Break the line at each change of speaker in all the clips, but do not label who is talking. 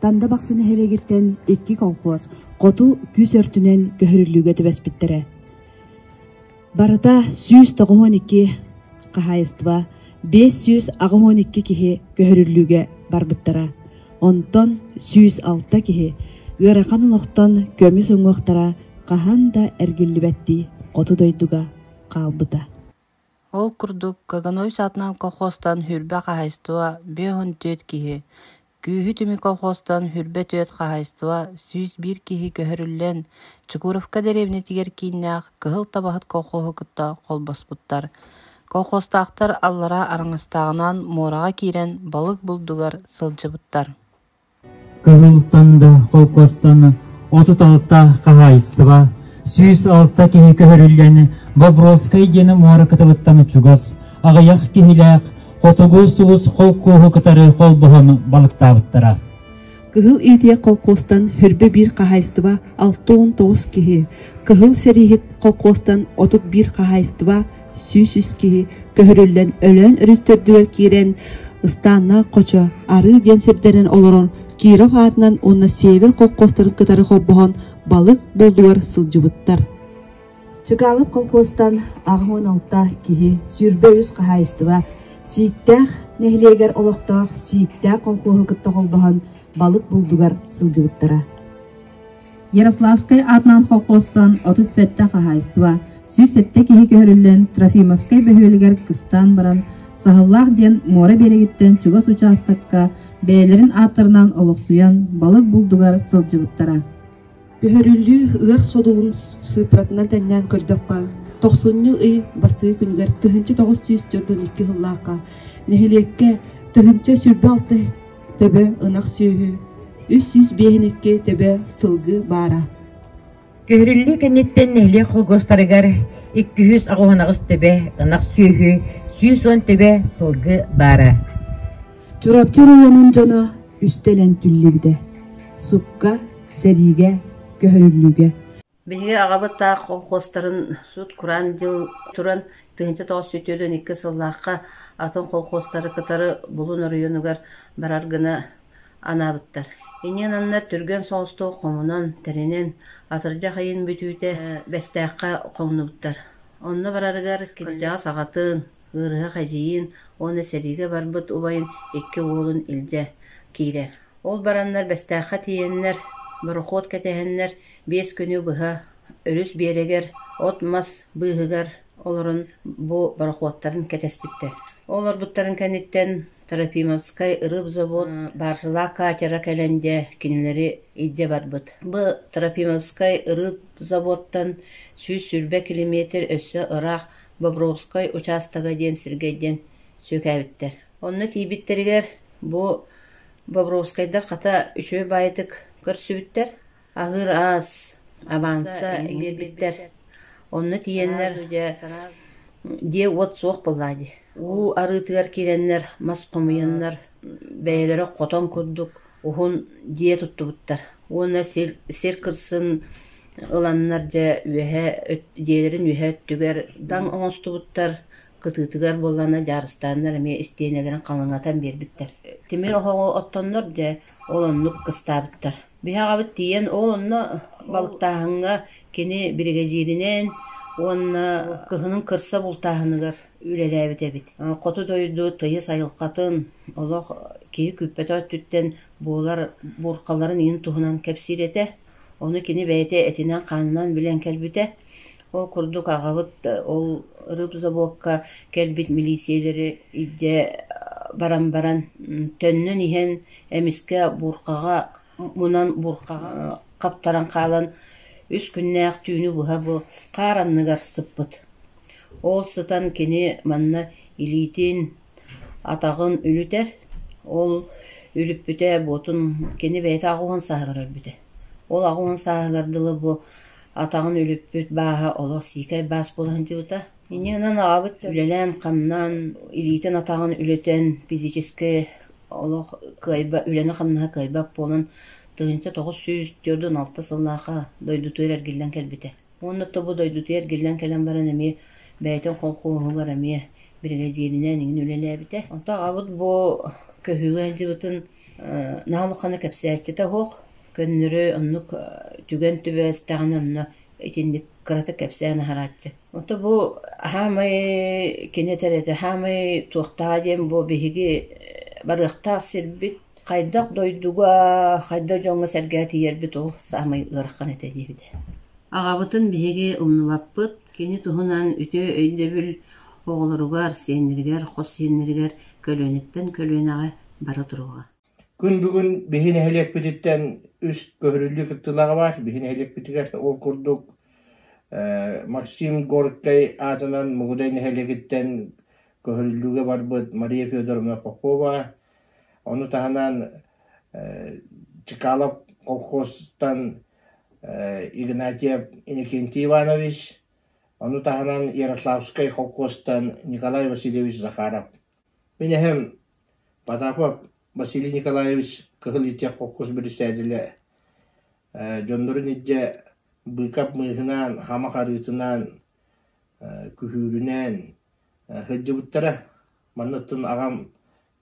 Танда Бахсы нэһилиэгиттэн икки колхоз хоту күүс өртүнэн көһөрүллүүгэ түбэспиттэрэ. Барыта сүүс тоҕуһун икки хаһаайыстыба бес сүүс аҕыһун икки киһи көһөрүллүүгэ барбыттара. Онтон сүүс алта киһи ыарахан олохтон көмүс уҥуохтара хаһан да эргиллибэттии хоту дойдуга хаалбыта. Ол курдук, Каганович аатынан колхозтан Хүрбэ хаһайыстыба биэс уон түөрт киһи, күүһү түмүк колхозтан Хүрбэ түөрт хаһайыстыба сүүс биир киһи көһөрүллэн, Чугуровка дэриэбинэтигэр кииннээх Кыһыл Табаһыт колхоһу кытта холбоспуттар. Колхозтаахтар аллараа араҥастааҕынан муораҕа киирэн балык булдугар сылдьыбыттар Кыһылтан да, холкуостан отут-алта хаһаайыстыба, сүүс алта киһи көһөрүллэн Бобровскай диэн муора кытылыттан чугас, аҕыйах киһилээх Хотугу сулус холкуоһу кытары холбоһон балыктаабыттара. Кыһыл Иитийэ холкуостан Хөрбө биир хаһаайыстыба алта уон тоҕус киһи, Кыһыл Сэрииһит холкуостан отут биир хаһаайыстыба сүүс үс киһи көһөрүллэн Өлөөн өрүттөрдүгэр киирэн ыстааннаах хочо арыы диэн сирдэринэн олорон Киров аатынан уонна север колхозтарын кытары холбоһон балык булдугар сылдьыбыттар. Чыгаалык колхозтан аҕыс уон алта киһи, сүүрбэ үс хаһаайыстыба, Сииктээх нэһилиэгэр олохтоох Сииктээх колхоһу кытта холбоһон балык булдугар сылдьыбыттара. Ярославскай аатынан холкуостан отут сэттэ хаһаайыстыба, сүүс сэттэ киһи көһөрүллэн Трофимовскай бөһүөлэгэр кыстаан баран, Саһыллаах диэн муора биэрэгиттэн чугас учаастакка бэйэлэрин ааттарынан олохсуйан балык булдугар сылдьыбыттара. Көһөрүллүү ыар содулун сыыппатынан тэҥнээн көрдөххө, тохсунньу ый бастыы күнүгэр тыһыынча тоҕус сүүс төрдөн икки сыллаахха нэһилиэккэ тыһыынча сүүрбэ алта Төбө ынах сүөһү үс сүүс биэһин икки төбө сылгы баара Көһөрүллүү кэнниттэн нэһилиэк холкуостарыгар икки жүз аҕыһынаҕыс төбө ынах сүөһү сүүс уон төбө сылгы баара Чурапчы оройуонун дьоно үстэлэн түллүбүтэ. Сукка, сэриигэ, көһөрүллүүгэ Биһиги аҕабыт таах колхуостарын сут-кураан дьыл туран тыһыынча тоҕус сүүс түөрт уон икки сыллаахха атын колхуостары кытары булун оройуонугар барар гына анаабыттар. Иниэн аннар түргэн соҕустук хомунан, тэринэн, атырдьах ыйын бүтүүтэ Бэстээххэ хоҥнубуттар. Онно барарыгар кырдьаҕас аҕатын, ыарыһах-эдьиийин уонна сэриигэ барбыт убайын икки уолун илдьэ киирэр. Ол бараннар Бэстээххэ тиийэннэр, борохуот кэтэһэннэр, Биэс күнү быһа өрүс биэрэгэр от-мас быыһыгар олорон бу борохуоттарын кэтэспиттэр. Олорбуттарын кэнниттэн Трофимовскай ырыыбзавод Баржела катера кэлэн дьэ кинилэри илдьэ барбыт. Бу Трофимовскай ырыыбзаводтан сүүс сүүрбэ километр өссө ыраах Бобровскай учаастага диэн сиргэ диэн сүөкээбиттэр. Онно тиийбиттэригэр бу Бобровскайдар хата үчүгэй баайытык көрсүбүттэр. Аһыыр аас, аванса биэрбиттэр. Онно тиийэннэр дьиэ уот суох буоллаҕа дии. Уу арыытыгар киирэннэр мас хомуйаннар бэйэлэрэ хотон курдук уһун дьиэ туттубуттар. Уонна сир сир кырсын ыланнар дьэ үөһэ дьиэлэрин үөһэ өттүгэр таҥ оҥостубуттар. Кытыытыгар буоллаҕына дьаарыстааннар эмиэ истиэнэлэрин халыҥатан биэрбиттэр. Тимир оһоҕу оттоннор дьэ ол оннук кыстаабыттар. Биһэҕэбит тиийэн ол онно балыктааһыҥҥа кини биригэдьииринэн уонна кыһынын кырса бултааһыныгар үлэлээбит эбит. Хоту дойду тыйыс айылҕатын, олох киһи күүппэтэх өттүттэн буолар буурхаларын иһин туһунан кэпсиир этэ. Ону кини бэйэтэ этинэн-хаанынан билэн кэлбитэ. Ол курдук аҕабыт ол рыб забокка кэлбит милиисийэлэри илдьэ баран баран төннөн иһэн Эмискэ буурҕаҕа мунан буурҕаҕа хаптаран хаалан үс күннээх түүнү быһа бу хаар анныгар сыппыт. Ол сытан кини манна илиитин, атаҕын үлүтэр, ол үлүппүтэ буотун кини бэйэтэ аҕуһун сааһыгар өлбүтэ. Ол аҕуһун сааһыгар дылы бу атаҕын үлүппүт бааһа олох сиикэй баас буола сылдьыбыта. Иннинэн аҕабыт үлэлээн-хамнаан илиитин-атаҕын үлэтэн физическэй олох кыайба, үлэни-хамнаһы кыайбат буолан, тыһыынча тоҕус сүүс түөрт уон алта сыллаахха дойдутугар эргиллэн кэлбитэ. Уонна то бу дойдутугар эргиллэн кэлэн баран эмиэ бэйэтин холкуоһугар эмиэ биригэдьииринэн иҥин үлэлээбитэ. Онтон аҕабыт бу көһүүгэ сылдьыбытын э наһаа улахана кэпсээччитэ суох. Көннөрү оннук түгэн түбэстэҕинэ онно итинник кыратык кэпсээн аһарааччы Ото бу хаамай кини этэрэ хаамай туохтааҕа диэн бу биһиги барыахтаах сирбит хайдах дойдуга, хайдах дьоҥҥо-сэргэҕэ тиийэрбит ол саамай ыарахан этэ диэбитэ. Аҕабытын биһиги умнубаппыт, кини туһунан үтүө өйдөбүл оҕолоругар, сиэннэригэр, хос сиэннэригэр көлүөнэттэн көлүөнэҕэ бара туруоҕа. Күн бүгүн биһи нэһилиэкпититтэн үс көһөрүллүү кыттыылаах баар. Биһи нэһилиэкпитигэр ол курдук э Максим Горькай аатынан Мугудай нэһилиэгиттэн көһөрүллүүгэ барбыт Мария Федоровна Попова, ону таһынан э Чекалов колхозтан э Игнатьев Иннокентий Иванович, ону таһынан Ярославскай колхозтан Николай Васильевич Захаров. Мин эһэм Потапов Василий Николаевич Кыһыл Итиэх Хоккус бэрэссэдээтэлэ ээ дьоннорун илдьэ быыкап мыыһынаан, хамах арыытынаан, ээ күһүүрүнээн ээ сылдьыбыттара. Манныттан аҕам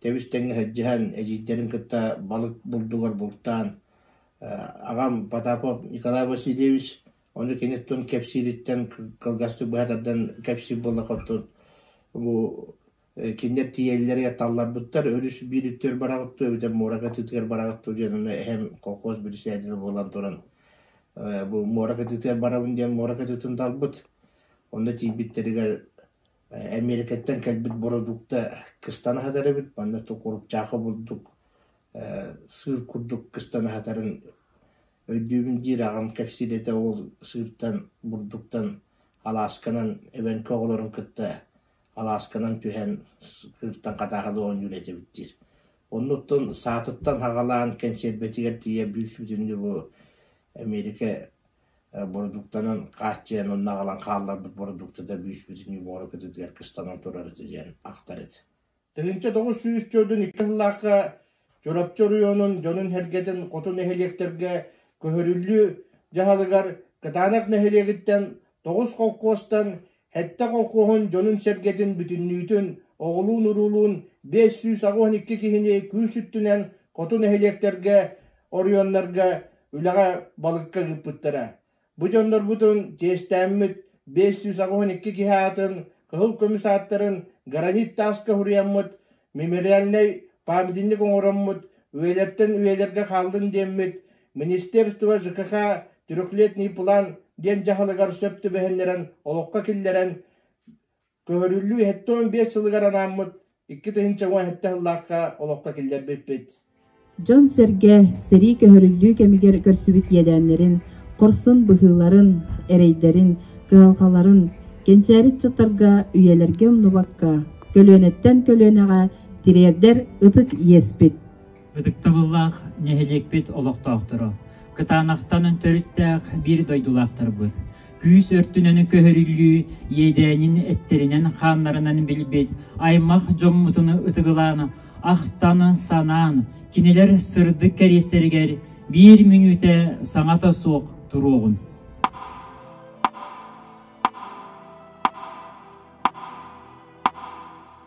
тэбис-тэҥҥэ сылдьыһан, эдьиийдэрин кытта балык булдугар бултаан, аа аҕам Потапов Николай Васильевич Ону кини тун кэпсиириттэн кылгастык быһа тардан кэпсиир буоллахха оттон бу кинилэр тиийэллэрэ талларбыттар өрүс биир-үттүгэр бараҕыттыа эбэтэр муорака ытыытыгар бараҕыттыа диэн ону эһэм колхоз бэрэсээдэлэ буолан туран бу муорака ытыытыгар барабын диэн муорака ытыытын талбыт онно тиийбиттэригэр Эмиэрикэттэн кэлбит бородуукта кыстан аһатар эбит манна курупчаахы булдук сыыр курдук кыстан аһатарын Өйдүүбүн диир аҕам кэпсиир этэ уол сыыртан, бурдуктан алаасканан эбэҥки оҕолорун кытта алаасканан түһэн сыыртан хатааһылыы оонньуур этибит диир. Оннуттан саатыттан хаҕалаан кэнсиэрбэтигэр тиийэ бүүс-бүтүн дьулу Эмиэрикэ бородууктанан хааччыйан онно аҕалан хаалларбыт бородуктата бүүс-бүтүн дьулу оҕоро кытытыгар кыстанан турар этэ диэн ахтар этэ Тыһыынча тоҕус сүүс дьөлүн икки сыллаахха Чурапчы оройуонун дьонун-сэргэтин хоту нэһилиэктэргэ көһөрүллүү дьаһалыгар Кытаанах нэһилиэгиттэн тоҕус холкуостан сэттэ холкуоһун дьонун-сэргэтин бүтүннүүтүн оҕолуун-уруулуун биэс сүүс аҕыс уон икки киһини күүс өттүнэн хоту нэһилиэктэргэ оройуоннарга үлэҕэ балыкка ыыппыттара. Бу дьоннорбутун чиэстээммит биэс сүүс аҕыһын икки киһи аатын кыһыл көмүс ааттарын гранит тааска уһуйаммыт мемориальнай памятник оҥороммут үйэлэртэн үйэлэргэ хааллын диэммит Министерство ЖКХ «Трехлетний план» диэн дьаһалыгар сөп түбэһиннэрэн олоххо киллэрэн Көһөрүллүү сэттэ уон биэс сылыгар анааммыт икки тыһыынча уон сэттэ сыллаахха олоххо киллэрбиппит дьон-сэргэ сэрии көһөрүллүү кэмигэр көрсүбүт иэдээннэрин, хорсун быһыыларын, эрэйдэрин, кыһалҕаларын кэнчээри ыччаттарга үйэлэргэ умнубакка, көлүөнэттэн көлүөнэҕэ тириэрдэр ытык иэспит Ытыктабыллаах нэһилиэкпит олохтоохторо! Кытаанахтан төрүттээх биир дойдулаахтарбыт! Күүс өртүнэн көһөрүллүү иэдээнин эттэринэн-хааннарынан билбит аймах дьоммутун ытыгылаан, ахтан-санаан, кинилэр сырдык кэриэстэригэр биир мүнүүтэ саҥата суох туруоҕун!